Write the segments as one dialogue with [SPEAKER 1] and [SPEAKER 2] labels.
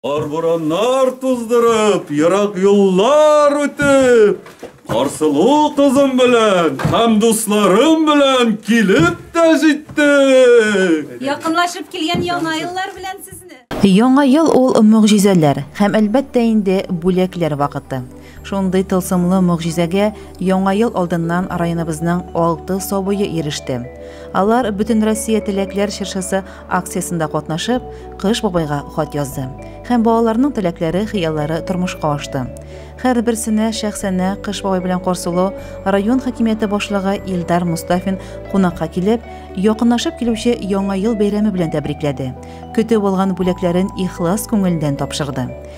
[SPEAKER 1] Кар-бураннар туздырып, ерак юллар үтеп, Карсылу кызым белән һәм дусларым белән килеп тә җиттек. Якынлашып
[SPEAKER 2] килгән яңа еллар белән сезне! Яңа ел ул
[SPEAKER 3] мөгъҗизәләр һәм, әлбәттә инде, бүләкләр вакыты. Шундый тылсымлы могҗизәгә Яңа ел алдыннан районыбызның алты сабые иреште. Алар Бөтенроссия теләкләр чыршысы акциясендә катнашып, Кыш бабайга хат язды. Һәм балаларның теләкләре, хыяллары тормышка ашты. Һәрберсенә шәхсәнә Кыш бабай белән карсылу район хакимияте башлыгы Илдар Мостафин кунакка килеп, якынлашып килүче Яңа ел бәйрәме белән тәбрикләде, көтеп алган бүләкләрен ихлас күңелдән тапшырды.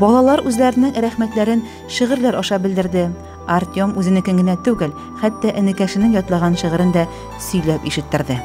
[SPEAKER 4] Балалар
[SPEAKER 3] үзләренең рәхмәтләрен шигырьләр аша белдерде. Артем үзенекен генә түгел, хәтта энекәшенең ятлаган шигырен дә сөйләп ишеттерде.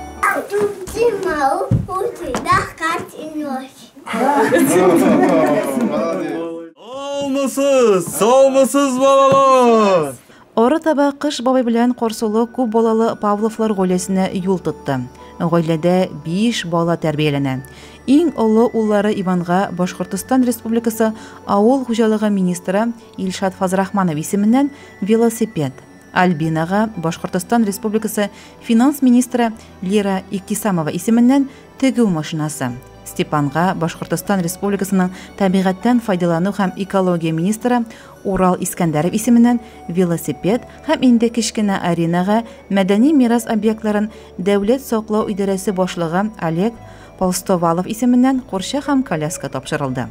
[SPEAKER 1] Саумысыз, саумысыз балалар! Арытаба
[SPEAKER 3] Кыш бабай белән Карсулы күп балалы Павловлар гаиләсенә юл тотты. Гаиләдә биш бала тәрбияләнә. Иң олы уллары Иванга Башкортостан Республикасы авыл хуҗалыгы министры Илшат Фазрахманов исеменнән велосипед, Альбинага Башкортостан Республикасы финанс министры Лира Иктисамова исеменнән тегү машинасы, Степанга Башкортостан Республикасының табигатьтән файдалану һәм экология министры Урал Искәндәров исеменнән велосипед һәм инде кечкенә аренага мәдәни мирас объектларын дәүләт саклау идарәсе башлыгы Олег Полстовалов исеменнән курча һәм коляска тапшырылды.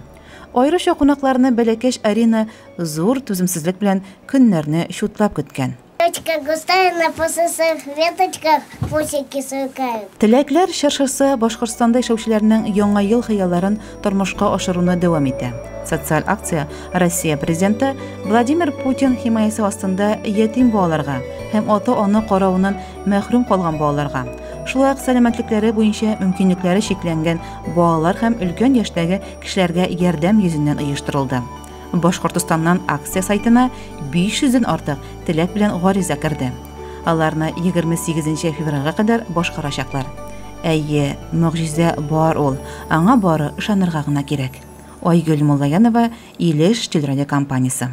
[SPEAKER 3] Аеруча кунакларны бәләкәч арена зур түземсезлек белән көннәрне чутлап көткән. Веточка густая, на пососах веточках пусики сукают. Теләкләр чыршысы Башкортстанда яшәүчеләрнең яңа ел хыялларын тормышка ашыруны дәвам итә. Социаль акция Россия президенты Владимир Путин химаясе астында ятим балаларга һәм ата-ана каравыннан мәхрүм калган балаларга, шулай ук сәламәтлекләре буенча мөмкинлекләре чикләнгән балалар һәм өлкән яшьтәге кешеләргә ярдәм йөзеннән оештырылды. Башкортостаннан акция сайтына 500 ден артык теләк белән гариза керде. Аларны 28 февральгә кадәр башкарачаклар. Әйе, могҗиза бар ул, аңа бары ышанырга гына кирәк. Айгөл Муллаянова, Илеш телерадиокомпаниясе.